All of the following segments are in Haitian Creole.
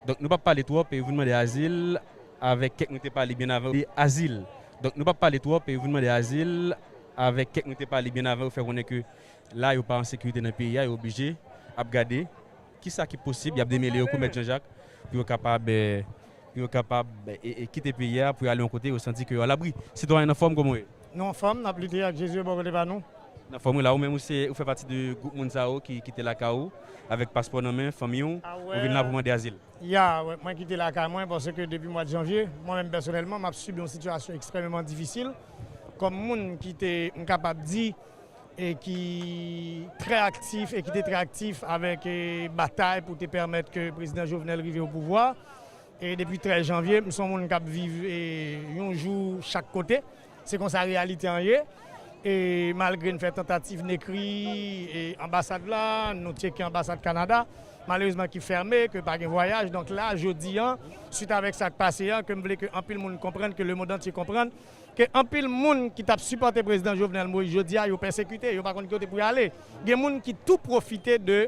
Donk nou pap pale twòp e vin mande azil avèk kèk nou te pale byen avan yo azil Donk nou pap pale twòp e vin mande azil avèk kèk nou te pale byen avan yo fè konnen ke la yo pa an sekirite nan peyi a yo oblije ap gade Ki sa ki posib? Y ap demele yo kou mèt Janjak pou yo kapab pou yo kapab kite peyi a pou yo ale yon kote yo santi ke yo alabri. Sitwayen nan fòm, kòman w ye? Nou an fòm, n ap lite ak Jezi yo bò kote pa nou. Nan fòm wi la. Ou menm ou se ou fè pati de gwoup moun sa yo ki kite lakay ou avèk paspò nan men, fanmi w, ou vin la pou mande azil? Ya wè, mwen kite lakay mwen paske depi mwad janvye, mwen menm pèsonèlman m ap sibi yon sitiyasyon ekstrèmeman difisil kòm moun ki te m kapab di e ki trè aktif e ki te trè aktif avèk batay pou te pèmèt ke Prezidan Jovenel rive o pouvwa e depi 13 janvye m son moun k ap viv yon jou chak kote se konsa reyalite an ye e malgre n fè tantativ n ekri anbasad la nou tyeke anbasad Kanada malerezman ki fèmen ke pa gen vwayaj donk la jodi an swit avèk sa k pase a ke m vle ke anpil moun konprann ke lemondantye konprann ke anpil moun ki tap sipòte Prezidan Jovenel Moïse jodi a yo pèsekite, yo pa konn ki kote pou yo ale. Gen moun ki tou pwofite de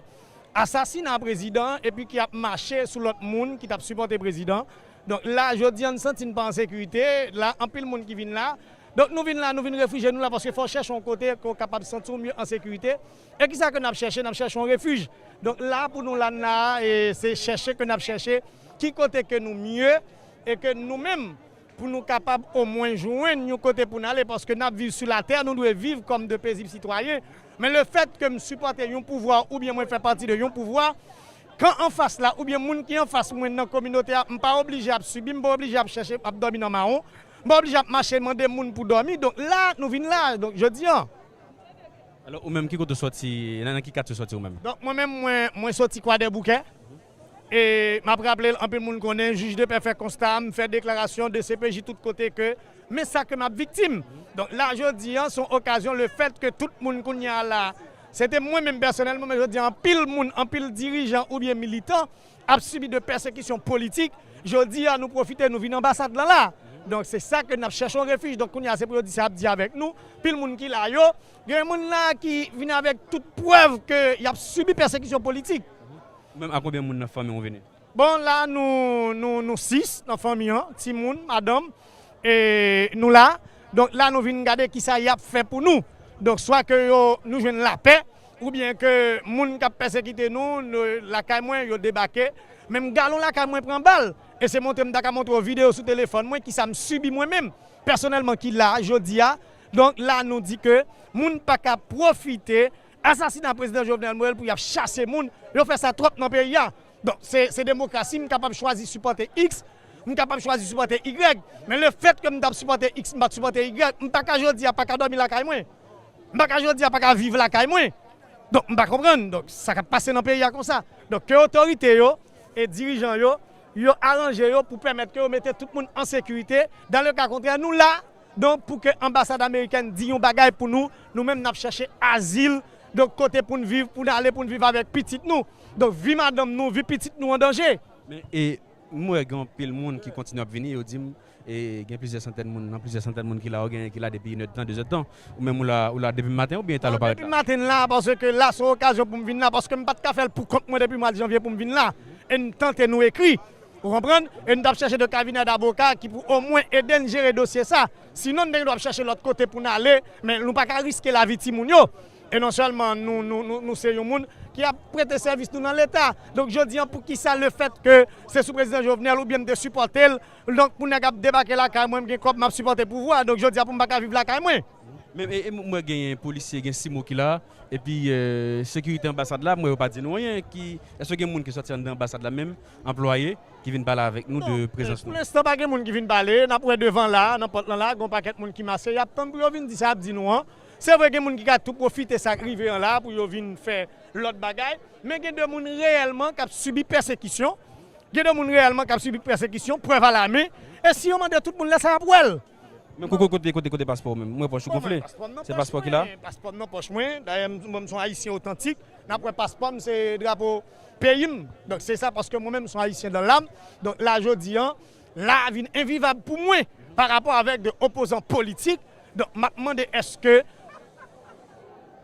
asasina Prezidan an epi ki ap mache sou lòt moun ki tap sipòte Prezidan. Donk la jodi an n santi n pa an sekirite, la anpil moun ki vin la. Donk nou vin la, nou vin refijye nou la paske fò w chèche yon kote ke w kapab santi w mye an sekirite. E kisa ke nap chèche? Nap chèche yon refij. Donk la pou nou la n la a e se chèche ke nap chèche ki kote ke nou mye e ke nou menm Pou nou kapab omwen jwenn yon kote pou n ale, paske n ap viv sou latè, nou dwe viv kòm de pezib sitwayen. Men lefèt ke m sipòte yon pouvwa oubyen mwen fè pati de yon pouvwa, kan anfas la oubyen moun ki anfas mwen nan kominote a, m pa oblije ap sibi, m pa oblije ap chèche ap dòmi nan mawon, m pa oblije ap mache mande moun pou dòmi. Donk la nou vin la jodi an. Alò, ou menm ki kote w sòti, nan ki katye w sòti ou menm? Donk mwen menm, mwen sòti Kwadèboukè. E map raple l anpil moun konnen jij de pè fè konsta m fè deklarasyon dcpj tout kote ke men sa ke map viktim. Donk la jodi an son okazyon le fèt ke tout moun kounye a la se te mwen menm pèsonèlman men jodi an anpil moun anpil dirijan oubyen militan ap sibi de pèsekisyon politik jodi a nou pwofite nou vin anbasad lan la donk se sa ke nap chèche yon refij donk kounye a se pou yo di sa yap di avèk nou pil moun ki la yo gen moun la ki vin avèk tout prèv ke yap sibi pèsekisyon politik. Ou menm a konbyen moun nan fanmi ou vini? Bon la nou nou nou 6 nan fanmi an, timoun, madanm e nou la. Donk la nou vin gade kisa yap fè pou nou. Donk swa ke yo nou jwenn lapè oubyen ke moun kap pèsekite nou lakay mwen yo debake. Menm galon lakay mwen pran bal e se montre mta ka montre w video sou telefòn mwen kisa m sibi mwen menm pèsonèlman ki la jodi a. Donk la nou di ke moun paka pwofite Asasina prezidan Jovenel Moel pou yap chase moun, yo fè sa twòp nan peyi a. Bon, se demokrasi, m kapab chwazi sipòte X, m kapab chwazi sipòte Y, men le fèt ke m tap sipòte X m pat sipòte Y, m pa ka jodi a pa ka dòmi lakay mwen. M pa ka jodi a pa ka viv lakay mwen. Donk m pa konprann, donk sa kap pase nan peyi a konsa. Donk ke otorite yo e dirijan yo, yo aranje yo pou pèmèt ke yo mete tout moun an sekirite, dan le ka kontrè nou la Donk pou ke anbasad amerikèn di yon bagay pou nou, nou menm nap chèche azil, donk kote poun viv, poun ale poun viv avèk pitit nou. Donk vi madanm nou, vi pitit nou an danje. Men e m wè gen anpil moun ki kontinye ap vini, yo di m e gen plizyè santèn moun nan, plizyè santèn moun ki la, ou genyen ki la depi inèd tan, dezèd tan. Ou menm ou la, ou la depi maten oubyen e talè w parèt la? Depi maten la, paske la son okazyon pou m vin la, paske m pat ka fè l pou kont mwen depi mwad janvye pou m vin la, e m tante nou ekri. Ou konprann? E n t ap chèche de kabinè davoka ki pou omwen ede n jere dosye sa. Sinon n te gen dwa ap chèche lòt kote pou n ale, men nou pa ka riske lavi timoun yo. E non sèlman nou nou se yon moun ki ap prete sèvis nou nan Leta. Donk jodi an poukisa lefèt ke se sou prezidan Jovenel oubyen m te sipòte l, donk pou nèg ap debake lakay mwen m gen kòb m ap sipòte pouvwa. Donk jodi a pou m pa ka viv lakay mwen? Men m wè genyen polisye, gen CIMO ki la, epi sekirite anbasad la m wè yo pa di nou anyen. Ki, èske gen moun ki sòti anndan anbasad la menm? anplwaye ki vin pale avèk nou de prezans nou. Pou lenstan pa gen moun ki vin pale, n ap wè devan la a, nan pòt lan la a, gen yon pakèt moun ki mache, y ap tann pou yo vin di sa y ap di nou an. Se vre gen moun ki ka tou pwofite sa k rive an la a pou yo vin fè lòt bagay, men gen de moun reyèlman k ap sibi pèsekisyon, gen de moun reyèlman k ap sibi pèsekisyon, prèv alamen, e si yo mande tout moun lè sa a, y ap wè l. Men koko kote kote kote paspòw menm? M wè pòch ou gonfle. Se paspò ki la? Paspòm nan pòch mwen, dayè m mwen m son ayisyen otantik, nap wè paspòm se drapo peyim, donk se sa paske mwen menm m son ayisyen dan lam, donk la jodi an la vin envivab pou mwen parapò avèk de opozan politik, donk map mande eske.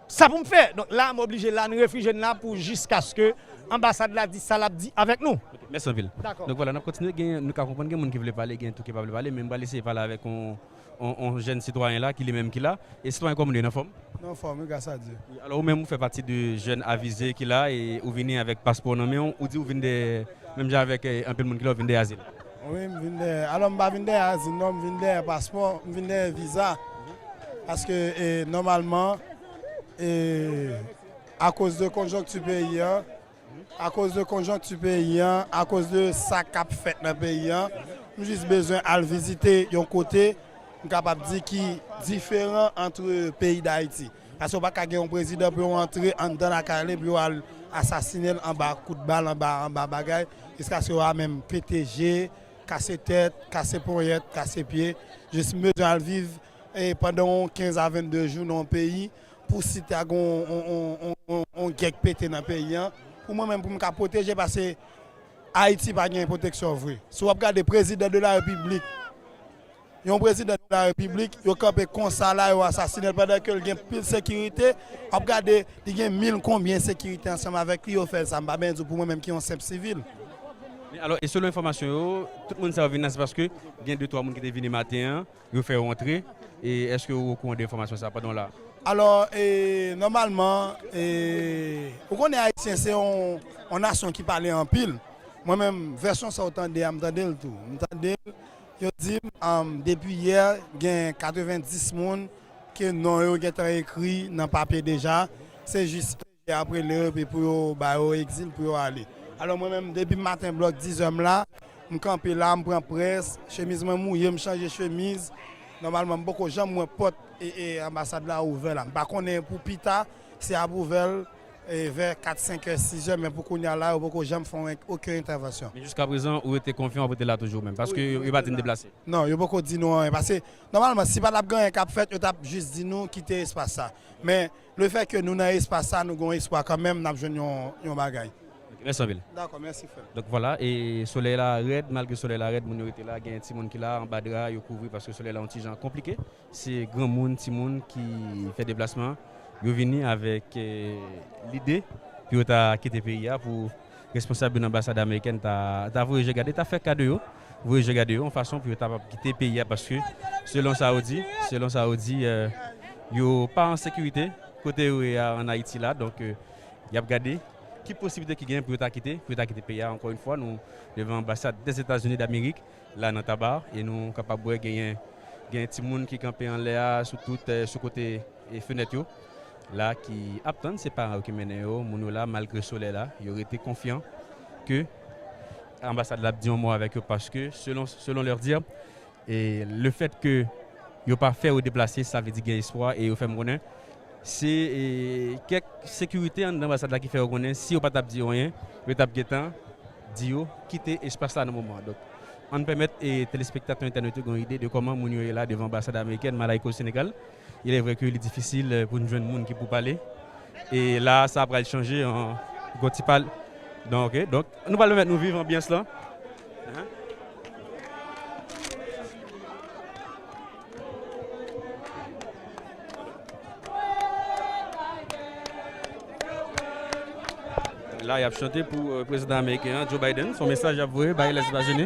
Sa pou m fè? Donk la m oblije la, n refije n la pou jiskaske anbasad la di sa l ap di avèk nou. Ok, mèsi anpil. Dakò. Donk vwala, n ap kontinye. Gen, nou ka konprann gen moun ki vle pale, gen tou ki pa vle pale, men m pral eseye pale avèk yon, yon, yon jèn sitwayen la ki li menm ki la. E sitwayen kòman nou ye? N anfòm? Nou anfòm wi, gras a Dye. Alò ou menm ou fè pati de jèn avize ki la e ou vini avèk paspò w nan men w, ou di ou vin de, menm jan avèk anpil moun ki la, ou vin de azil. Wi m vin dèyè alò m pa vin dèyè azil non m vin dèyè paspò m vin dèyè viza paske nòmalman e akoz de konjonkti peyi an akoz de konjonkti peyi an akoz de sa k ap fèt nan peyi an m jis bezwen al vizite yon kote m kapab di ki diferan antre peyi dayiti. Paske ou pa ka gen yon prezidan pou yo antre anndan lakay li pou yo al asasine l anba kout bal, anba anba bagay, jiskaske wa menm pete je, kase tèt, kase ponyèt, kase pye, jis m bezwen al viv pandan yon 15 a 22 jou nan yon peyi pou si ta gen yon gè k pete nan peyi an pou mwen menm pou m ka pwoteje paske Ayiti pa gen pwoteksyon vre. Si w ap gade prezidan de la repiblik. Yon prezidan de la repiblik yo kanpe konsa la yo asasinel pandan kel gen pil sekirite wap gade li gen mil konbyen sekirite ansanm avèk li yo fèl sa mpa byen diw pou mwen menm ki yon senp sivil. Men alò e selon enfòmasyon yo tout moun sa yo vin la se paske gen de twa moun ki te vini maten an yo fè yo antre e eske ou okouran de enfòmasyon sa pandan w la? Alò e nòmalman e ou konnen ayisyen se yon nasyon ki pale anpil mwen menm vèsyon sa ou tande a mtandel tou mtandel Yo di m depi yè gen 90 moun ke non yo gentan ekri nan papye deja, se jis prefè ap rele yo epi pou yo ba yo egzil pou yo ale. Alò mwen menm depi maten blòk dizè m la, m kanpe la, m pran près, chemiz mwen mouye, m chanje chemiz, nòmalman m poko janm wè pòt anbasad la ouvè la. M pa konnen pou pita si y ap ouvè l. vè 4 5 è 6 è men pou kounye a la yo poko janm fè oken entèvansyon. Men jiska prezan ou rete konfyan wap rete la toujou menm paske yo pa di n deplase? Non yo poko di nou anyen paske nòmalman si patap gen anyen kap fèt yo tap jis di nou kite espas sa men le fè ke nou nan espas sa nou gon espwa kanmenm nap jwenn yon bagay. Ok mèsi anpil. Dakò mèsi frèm. Donk vwala e solèy la rèd malgre solèy la rèd moun yo rete la gen timoun ki la anba dra yo kouvri paske solèy la yon ti jan konplike. Se granmoun, timoun ki fè deplasman yo vini avèk lide pou yo ta kite peyi a pou responsab yo nan anbasad amerikèn ta voye je gade, ta fè ka de yo, voye je gade yo yon fason pou yo ta kapab kite peyi a paske selon sa yo di, selon sa yo di yo pa an sekirite kote yo ye a an Ayiti la donk y ap gade ki posiblite ki genyen pou yo ta kite, pou yo ta kite peyi a ankò yon fwa nou devan anbasad Dèzetazini Damerik. la nan taba e nou kapab wè genyen genyen timoun ki kanpe anlè a sou tout sou kote e fenèt yo la ki ap tann se paran yo ki mennen yo moun yo la malgre solèy la yo rete konfyan ke anbasad la ap di yon mo avèk yo paske selon selon lèr dir e le fèt ke yo pa fè yo deplase sa vle di gen espwa e yo fèm konnen se e kèk sekirite anndan anbasad la ki fè yo konnen si yo pa tap di yo anyen yo tap gentan. di yo kite espas la nan moman an. Donk, ann pèmèt telespektatè entènèt yo gen yon ide de kòman moun yo ye la devan anbasad amerikèn Malaïka o Senegal. Ilèvre ke li difisil pou n jwenn moun ki pou pale. E la a, sa pral chanje an gon ti pale. Donk, ok. Donk, nou pral pèmèt nou viv anbyans lan. La yap chante pou prezidan ameriken an, Joe Biden, son mesaj yap voye bay Lèzetazini.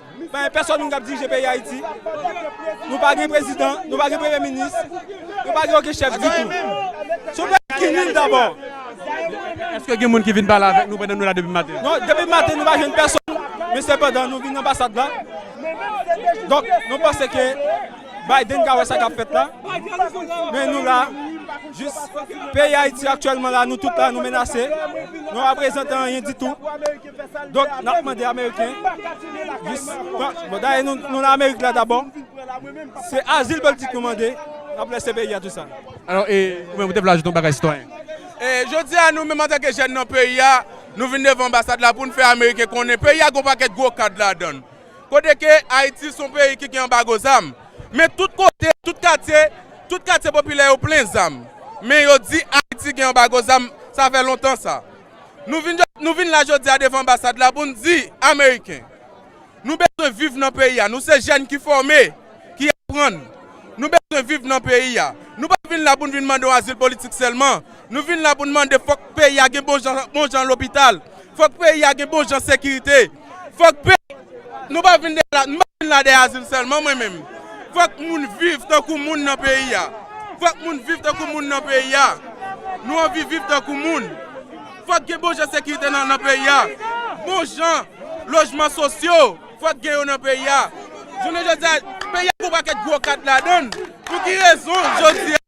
Bay pèsòn moun k ap dirije peyi Ayiti. Nou pa gen prezidan, nou pa gen premye minis, nou pa gen oken chèf ditou. Se yon peyi ki nil dabò. Èske gen moun ki vin pale avèk nou pandan nou la depi maten? Non, depi maten nou pa jwenn pèsòn. Men sepandan nou vin anbasad la. Donk nou panse ke Biden ka wè sa k ap fèt la. Men nou la jis peyi Ayiti aktyèlman la nou tout la nou menase. Nou pa reprezante anyen ditou. Donk nap mande ameriken jis pran, bon dayè nou nan amerik la dabò, se azil politik nou mande, nap lèse peyi a tou sa. Alò e ou menm ou te vle ajoute yon bagay sitwayen? E jodi a nou menm antanke jèn nan peyi a, nou vin devan anbasad la poun fè ameriken konnen peyi a gon pakèt gwo kad ladann. Kote ke ayiti son peyi ki gen anbago zam, men tout kote, tout katye, tout katye popilè yo plen zam, men yo di ayiti gen anbago zam, sa fè lontan sa. Nou vin la jodi a devan anbasad la pou n di ameriken, nou bezwen viv nan peyi a, nou se jèn ki fòme, ki aprann, nou bezwen viv nan peyi a. Nou pa vin la pou n vin mande yon azil politik sèlman, nou vin la pou n mande fòk peyi a gen bon jan lopital, fòk peyi a gen bon jan sekirite. Fòk pè Nou pa vin dèyè la Nou pa vin la dèyè azil sèlman mwen menm Fòk moun viv tankou moun nan peyi a Fòk moun viv tankou moun nan peyi a Nou anvi viv tankou moun Fòk gen bon jan sekirite nan peyi a Bon jan lojman sosyo Fòk gen yo nan peyi a Jounen jodi a peyi a gen yon pakèt gwo kad ladan l Pou ki rezon jodi a.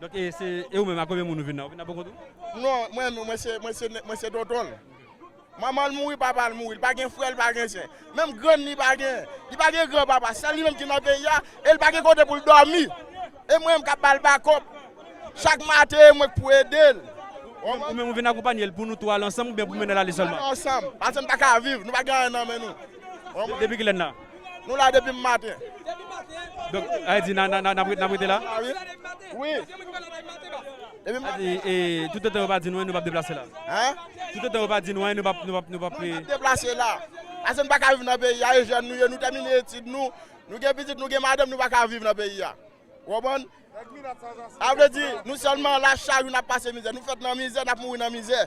Donk e se e ou menm a konbyen moun ou vin la? Ou vin la poko tou? Non, mwen menm mwen se mwen se mwen se tonton l. Manman l mouri, papa l mouri, li pa gen frè, li pa gen sè. Menm grann li pa gen. Li pa gen gran papa, sèl li menm ki nan peyi a e li pa gen kote pou l dòmi. E mwen menm k ap ba l bakòp chak maten e mwen k pou ede l. Ou menm ou vin akonpanye l pou nou tou al ansanm oubyen pou mennen l ale sèlman? Pou nou al ansanm, paske nou pa ka viv, nou pa gen anyen nan men nou. Depi kilè n la? Nou la depi maten. Donk sa vle di nap rete la? Wi. Toutotan yo pa di nou anyen nou pap deplase la? Toutotan yo pa di nou anyen nou pap. Nou pap deplase la. Pase nou paka viv nan peyi a e jèn nou ye nou tèmine etid nou. Nou gen pitit nou gen madanm nou paka viv nan peyi a. Ou konprann? Sa vle di, nou sèlman la chak jou n ap pase mizè. Nou fèt nan mizè, n ap mouri nan mizè.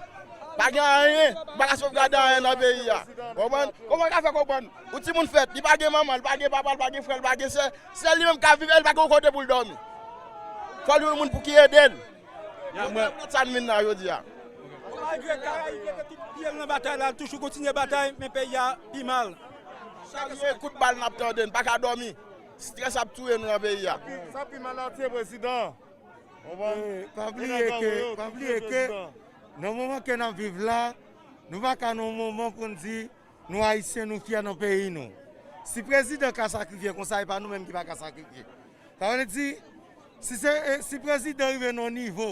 Pa gen anyen, nou pa ka sovgade anyen nan peyi a. Ou konprann? Kòman w ka fè konprann? Yon timoun fèt, li pa gen manman, li pa gen papa, li pa gen frè, li pa gen sè. Sèl li menm k ap viv e li pa gen yon kote pou l dòmi. Fò l jwenn yon moun pou ki ede l. Mwen regrèt sa n vin la jodi a. Malgre Karayib mete tout pye l nan batay la, l toujou kontinye batay, men peyi a pi mal. Chak jou se kout bal n ap tande, n pa ka dòmi. Stress ap touye nou nan peyi a. Sa pi mal la tiye prezidan an. Pa bliye ke nan moman ke nap viv la, nou pa ka nan moman pou nou di nou ayisyen nou fyè nan peyi nou. Si prezidan ka sakrifye konsa e pa nou menm ki pa ka sakrifye. Sa vle di si prezidan rive nan yon nivo.